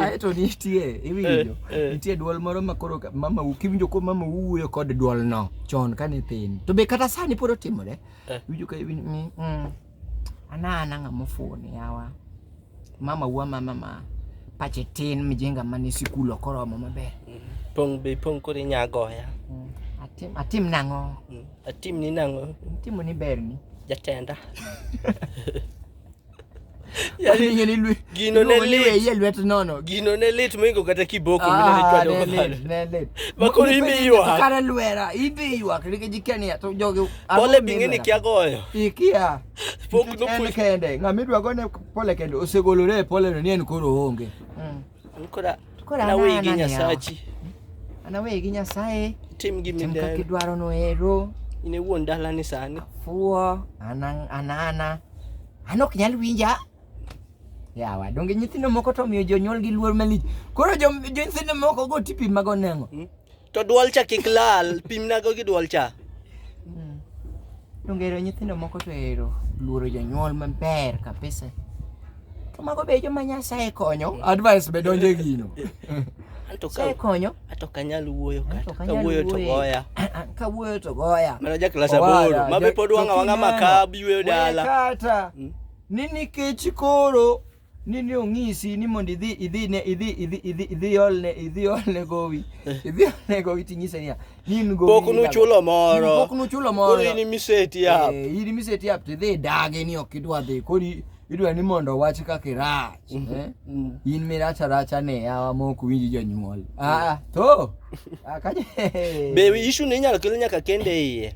aeto nitie iwinjo eh, eh. nitie dwol moro ma koro mama kiwinjo ko mama wuoyo kod dwol no chon kane thin to be kata sani pod otimore eh. iwinjo ka iwinjo ni mm, anana ng'a mofuni yawa mama wuo mama ma pache tin mjinga mane sikul ok oromo maber mm-hmm. pong be pong koro inya goya mm, atim atim nang'o mm, atim ni nang'o timo ni berni jatenda Yaani Yaani ngeni lwe. gino ne Iluongo ni lit. weye lwet nono. gino ne lit moingo kata kiboko Ah, ne minanichwado lit, kalo ne lit. Makoro Ipenjo ibi ywak. Kare lwera, ibi ywak nikech ikia ni to jogi pole bing'e ni kia goyo Ikia. Pok Nikech en nopuonj- kende, ng'ama idwa gone pole kende osegolore e pole no ni en koro onge. Ankora Kora na wigi anana yawa. nyasachi. Ana wegi Nyasaye. Tim gimi Tim kaka dero. idwaro noero. In e wuon dalani sani. Fuo. Ana anana. An ok nyal winja. Yawa, donge nyithindo moko to miyo jonyuolgi luor malich. Koro jo jo nyithindo moko go tipi mago nengo. To dwol cha kik lal, pimnago gi dwol cha. Mm. Dongero nyithindo moko to ero luoro jonyuol maber kabisa. To mago be joma Nyasaye konyo. Advice be donje gino. Anto ka konyo. Ato kanyal wuoyo kata. Ka wuoyo to goya. Ka wuoyo to goya. Mana ja klasa boro. Mabe pod wanga wanga makabi weyo dala. Kata. Mm. Ni nikech koro ni ni ong'isi ni mondo idhi idhi ne idhi idhi idhi idhi olne idhi olne gowi eh. idhi olne gowi ting'ise niya ni in gowi pok nuchulo moro pok nuchulo moro koro in miseti up eh, in miseti up tidhi dage ni ok idwa dhi koro idwa ni mondo wach kaka irach mm -hmm. eh? mm. in miracha racha ne yawa mok winji jonyuol mm. ah to akaje be issue ne inyalo kel nyaka kende iye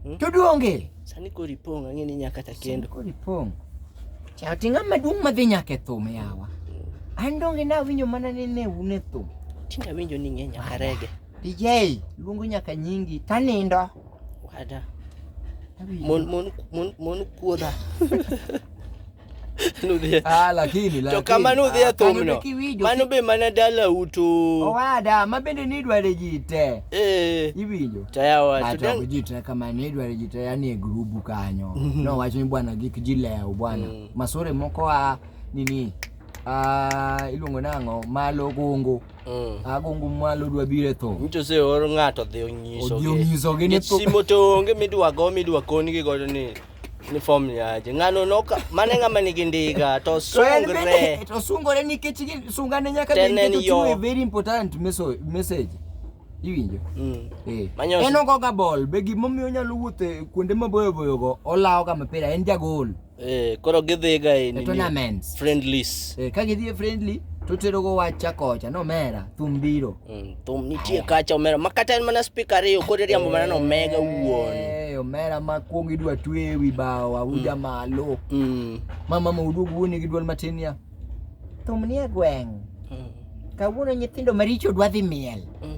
hmm? to duonge Sani kori pong' ang'e ni nyaka ta kendo. Kori pong'. Cha tinga maduong' madhi nyaka e thum yawa. An donge na winjo mana ni ne un e thum. Tinga winjo ni ng'e nyaka rege. DJ luongo nyaka nyingi tanindo. Wada. Mon mon mon mon kuoda. nudhie ah lakini lakini kama nudhie ah, to mno mano be mana dala utu owada ma bende ni dware jite eh ibinyo taya wa to ah, jite kama ni dware jite yani e grubu kanyo mhm. no wacho ni bwana gik jileo bwana mm. masore moko a nini Ah, iluongo nang'o malo gungu mm. agungu ah, malo dwa bire tho nyicho se or ng'ato dhi onyisogi onyisogi ni simo to onge midwa go midwa konigi godo ni ni form yaje ng'ano noka mane ng'ama nigi ndiga to So en sungre bende to sungore nikech gi- sungane nyaka Tenen bende to yo. chiwo a very important meso- message. Iwinjo? Mm. Eh. Manyoso. En ogoga ball be gimomiyo onyalo wuotho e kuonde maboyo boyo go olawoga mapira en jagol eh koro gidhiga e e nini tournaments. friendlies Eh, ka gidhi e friendly to terogo wach chakocha nomera thum biro. Mm, thum nitie kacha omera makata en mana spika ariyo koro riambo mana no mega wuon eh, omera ma kuong idwa twe ewi bao auja mm. malo mm. mama ma uduog wuoni gi dwol matin ya thum nie gweng mm. kawuono nyithindo maricho dwa dhi miel mm.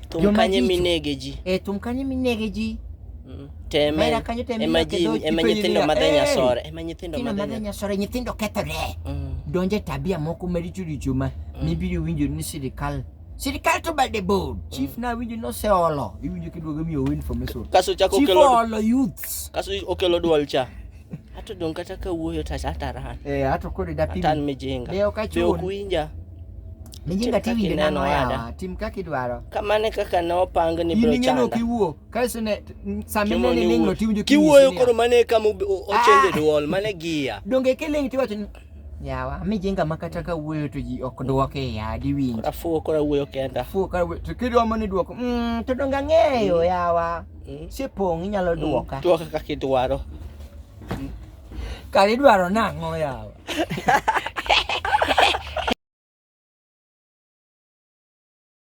thum kanye minege ji eh, thum kanye minege ji mm. teme ema ji ema nyithindo madhe eh, nyasore ema nyithindo madhe nyasore nyithindo kethore mm. donje tabia moko maricho richo ma mm. mibiri winjo ni sirikal sirikal to bade bold mm. chief na winjo no se olo iwinjo kiduogo miyo win for meso kaso chako kelo olo youths kaso okelo dual cha ato dong kata ka wuoyo ta chata ran eh ato kodi da pim tan mijinga leo ka chuo kuinja mijinga tiwinjo nano ya tim kaka idwaro kamane kaka no pang ni bro chanda Kaso ne sami ne ni ling' loti winjo kiwuoyo koro mane kama ochende ah! duol mane giya. Donge kiling' tiwacho ni yawa mi jinga makata ka wuoyo to ji ok dwoke ya di winjo. Afuwo kora wuoyo kenda. Afuwo kora wuoyo to kidwa mani dwoko. Mm, to donge ang'eyo mm. yawa. Mm. Sipong' inyalo mm, dwoka. Dwoka kaka idwaro. Mm. Kare idwaro nang'o yawa.